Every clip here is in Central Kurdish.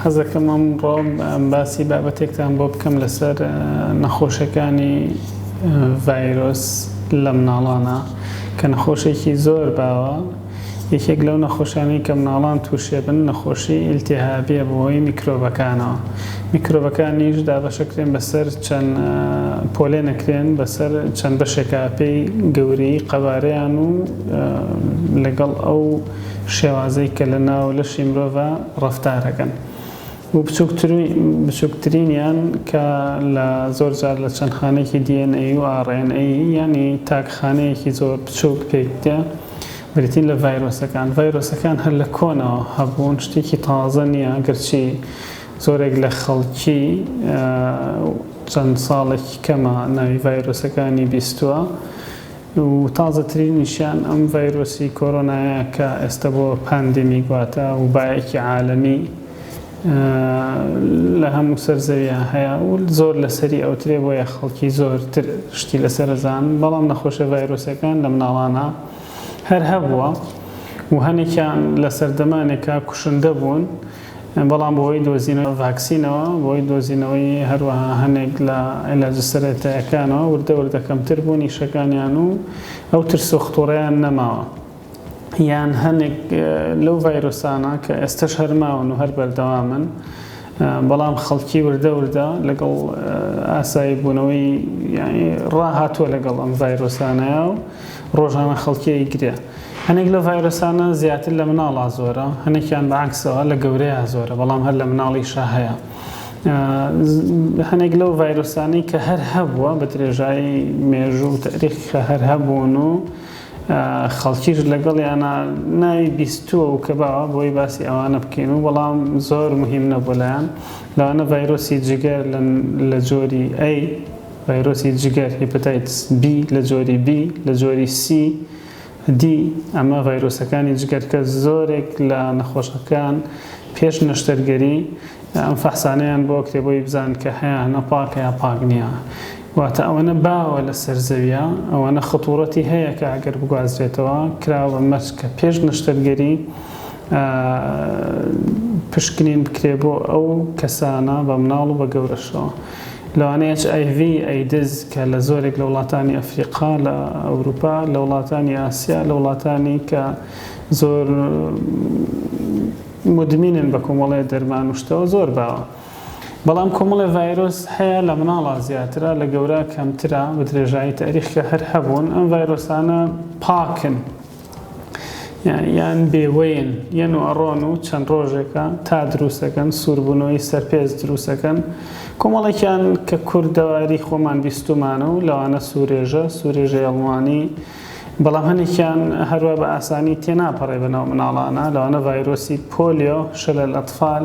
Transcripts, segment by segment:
حەزەکەم ئەم ڕۆ باسی بابەتێکتان بۆ بکەم لەسەر نەخۆشەکانی ڤایرۆس لە مناڵانە کە نەخۆشێکی زۆر باوە یەکێک لەو نەخۆشانەی کە مناڵان تووشێ بن نەخۆشی ئیلتیهابیە بەهۆی میکرۆبەکانەوە میکرۆبەکانیش دابەشەکرێن بەسەر چەند پۆلێنەکرێن بەسەر چەند بەشێکا پێی گەورەیی قەبارەیان و لەگەڵ ئەو شێوازەی کە لە ناو لەشی مرۆڤا ڕەفتارەکەن و بچوکترینیان کە لە زۆر جار لە چەند خانەیەکی دی ئێن ئەی و ئاڕ ئێن ئەی یانی تاک خانەیەکی زۆر بچوک پێکدێ. بریتین لە ڤایرۆسەکان. ڤایرۆسەکان هەر لە کۆنەوە هەبوون، شتێکی تازە نییە، گەرچی زۆرێک لە خەڵکی چەند ساڵێکی کەمە ناوی ڤایرۆسەکانی بیستووە و تازەترینیشیان ئەم ڤایرۆسی کۆرۆنایە کە ئێستا بۆ پاندیمیک واتە وبایەکی عالەمی لە هەموو سەر زەویا هەیە و زۆر لەسەری ئەوترێ بۆیە خەڵکی زۆر تر شتی لەسەر ئەزان بەڵام نەخۆشە ڤایرۆسەکان لە مناڵانا هەر هەبووە و هەنێکیان لە سەردەمانێکا کوشندە بوون بەڵام بۆی دۆزینەوە ڤاکسینەوە بۆی دۆزینەوەی هەروەها هەنێک لە علاجە سەرەتایەکانەوە وردە وردە کەمتر بوون ئیشەکانیان و ئەو ترس و خطوڕەیان نەماوە یان هەنێک لەو ڤایرۆسانە کە ئێستەش هەر ماون و هەر بەردەوامن بەڵام خەڵکی وردە وردە لەگەڵ ئاسایی بوونەوەی یعنی ڕاهاتووە لەگەڵ ئەم ڤایرۆسانەیە و ڕۆژانە خەڵکیی گرێ هەنێک لە ڤایرۆسانە زیاتر لە مناڵا زۆرە هەنێکیان بەعکسەوە لە گەورەیە زۆرە بەڵام هەر لە مناڵیشە هەیە هەنێک لەو ڤایرۆسانەی کە هەر هەبووە بە درێژایی مێژوو تاریخ کە هەر هەبوون و خەڵکیش لەگەڵیانا ناوی بیستووە و کەباوە بۆی باسی ئەوانە بکەین و بەڵام زۆر مهیم نەبووە لایان لەوانە ڤایرۆسی جگەر لە جۆری A ڤایرۆسی جگەر Hepatitis B لە جۆری B لە جۆری C D ئەمە ڤایرۆسەکانی جگەر کە زۆرێک لە نەخۆشەکان پێش نەشتەرگەری ئەم فەحسانەیان بۆ کتێبۆی بزان کە هەیانە پاکە یا پاک نیە واتە ئەوەنە باوە لەسەر زەویە ئەوەنە خطورەتی هەیە کە ئەگەر بگوازرێتەوە کراوە بە مەرج کە پێش نەشتەرگەری پشکنین بکرێ بۆ ئەو کەسانە بە مناڵ و بە گەورەشەوە لەوانەیە HIV ئەیدز کە لە زۆرێک لە وڵاتانی ئەفریقا لە ئەوروپا لە وڵاتانی ئاسیا لە وڵاتانی کە زۆر مدمینن بە کۆمەڵێ دەرمان و شتەوە زۆر باوە. بەڵام کۆمەڵێ ڤایرۆس هەیە لە مناڵا زیاترە لە گەورا کەمترە بە درێژایی تاریخکە هەر هەبوون ئەم ڤایرۆسانە پاکن یان بێوەین یەن و ئەڕۆن و چەند ڕۆژێکە تا دروستەکەن سووربوونەوەی سەرپێز دروستەکەن کۆمەڵێکیان کە کوردەواری خۆمان بیستومانە و لەوانە سوورێژە سوورێژە ئەڵمانی بەڵام هەنێکیان هەروە بە ئاسانی تێناپەڕێ بەناو مناڵانە لەوانە ڤایرۆسی پۆلیۆ شەلەل ئەتفال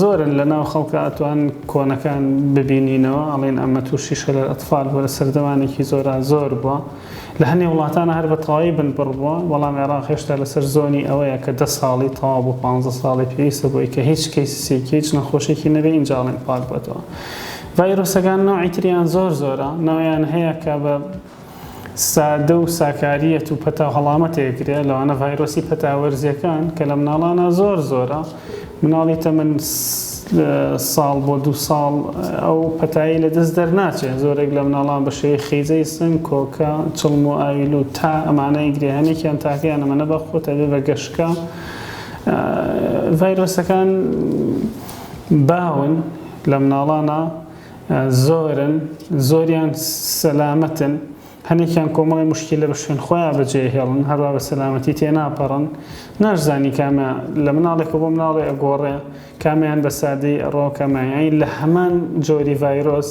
زۆرن لەناو خەڵکا ئەتوان کۆنەکان ببینینەوە ئەڵێن ئەمە توشی شلل اطفال بوە لە سەردەمانێکی زۆرا زۆر بوە لە هەنێ وڵاتانا هەر بە تەواوی بن بڕ بوە بەڵام عێراق هێشتا لەسەر زۆنی ئەوەیە کە دە ساڵی تەواو بۆ پانزە ساڵی پێویستە بۆی کە هیچ کەیسسێکی هیچ نەخۆشێکی نەبێ ئینجا ئەڵێن پاک بۆتەوە ڤایرۆسەکان نەوعی تریان زۆر زۆرە نەوعیان هەیە کە بە سادە و ساکارییەت و پەتا هەڵامەتێک ە، لەوانە ڤایرۆسی پەتا وەرزییەکان کە لە مناڵانا زۆر زۆرە، مناڵی تەمەن ساڵ بۆ دوو ساڵ ئەو پەتایەی لە دەست دەرناچێت، زۆرێک لە مناڵان بە شێوەی خیزەی سنگ، کۆکە، چڵم و ئاوی لووت تا ئەمانە ئیگرێ هەنێکیان تاکەیان ئەمەنە بە خۆت ئەبێ بە گەشکە ڤایرۆسەکان باون لە مناڵانا. زۆرن زۆریان سەلامەتن هەنێکیان کۆمەڵی مشکیلە بە شوێن خۆیان بەجێهێڵن هەروا بە سەلامەتی تێ ناپەڕن ناشزانی کامە لە مناڵێکە بۆ مناڵێ ئەگۆڕێ کامیان بە سادەی ئەڕۆ کەمایانی لە هەمان جۆری ڤایرۆس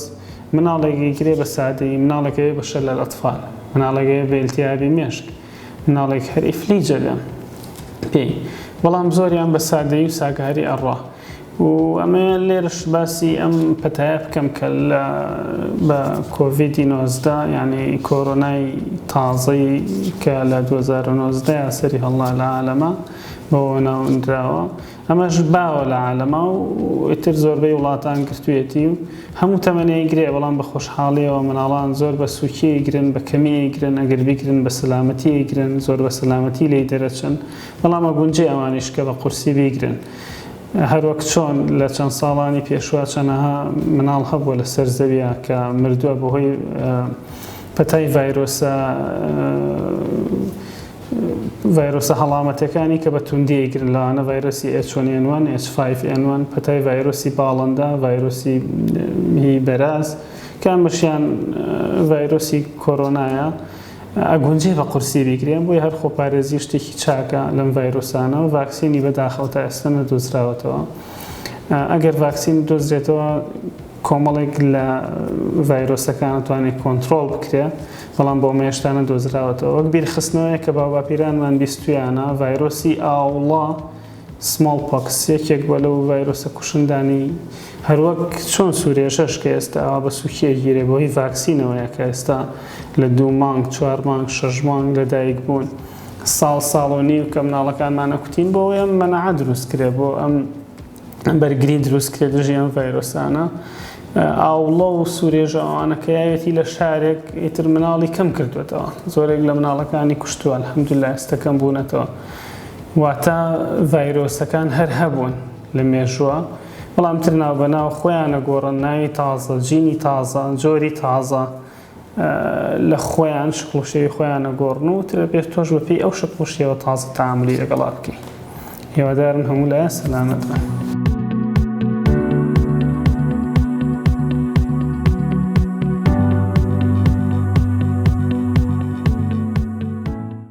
مناڵێکی گرێ بە سادەی مناڵەکەوێ بە شەلە لە ئەتفال مناڵەکەێ بێلتیابی مێشک مناڵێک هەر ئیفلیجە لە پێی بەڵام زۆریان بە سادەی و ساکاری ئەڕا و ئەمەوێ لێرەش باسی ئەم پەتایە بکەم کە لە بە کۆڤیدی نۆزدە یانی کۆرۆنای تازەی کە لە دوو هەزار و نۆزدە یا سەری هەڵا لە عالەما بەوە ناونراوە ئەمەش باوە لە عالەما و ئیتر زۆربەی وڵاتان گرتوویەتی و هەموو تەمەنەی گرێ بەڵام بە خۆشحاڵیەوە مناڵان زۆر بە سووکی گرن بە کەمی گرن ئەگەر بیگرن بە سەلامەتی گرن زۆر بە سەلامەتی لێی دەرەچن بەڵام ئەگونجێ ئەوانیش کە بە قورسی بیگرن هەروەک چۆن لە چەند ساڵانی پێشوە چەنەها مناڵ هەبووە لە سەر زەویە کە مردوە بە هۆی پەتای ڤایرۆسە ڤایرۆسە هەڵامەتەکانی کە بە توندی گرن لاانە ڤایرۆسی ئەچۆنێنوان H5N1 پەتای ڤایرۆسی باڵندە ڤایرۆسی بەراز کامەشیان ڤایرۆسی کۆرۆنایە ئەگونجێ بە قورسی بیگرێن، بۆیە هەر خۆپارێزی شتێکی چاکە لەم ڤایرۆسانە و ڤاکسینی بەداخەوە تا ئێستا نەدۆزراوەتەوە. ئەگەر ڤاکسین بدۆزرێتەوە کۆمەڵێک لە ڤایرۆسەکان ئەتوانێت کۆنترۆڵ بکرێت، بەڵام بۆ ئەمە هێشتا نەدۆزراوەتەوە. وەک بیرخستنەوەیەک کە باوباپیرانمان بیستوویانە، ڤایرۆسی ئاوڵە، سمۆڵ پۆکس یەکێک بووە لەو ڤایرۆسە کوشندانەی هەر وەک چۆن سورێژەش کە ئێستا ئاوا بە سوکی ئەگیرێ بە هۆی ڤاکسینەوەیە کە ئێستا لە دوو مانگ چوار مانگ شەش مانگ لە دایک بوون ساڵ ساڵ و نیو کە مناڵەکانمان ئەکوتین بۆ ئەوەی ئەم مەناعە دروست کرێ بۆ ئەم بەرگری دروست کرێ دژی ئەم ڤایرۆسانە ئاوڵە و سوورێژە ئەوانە کە یاوێتی لە شارێک ئیتر مناڵی کەم کردوێتەوە زۆرێک لە مناڵەکانی کوشتووە الحمدللە ئێستەکەم بوونەتەوە واتە ڤایرۆسەکان هەر هەبوون لە مێژووە بەڵام تر ناو بە ناو خۆیان ئەگۆڕن ناوی تازە جینی تازە جۆری تازە لە خۆیان شکڵ و شێوی خۆیان ئەگۆڕن و تر پێش تۆش بە پێی ئەو شکڵ و شێوە تازە تاملی لەگەڵا بکەی هێوادارم هەموو لایە سەلامەت بن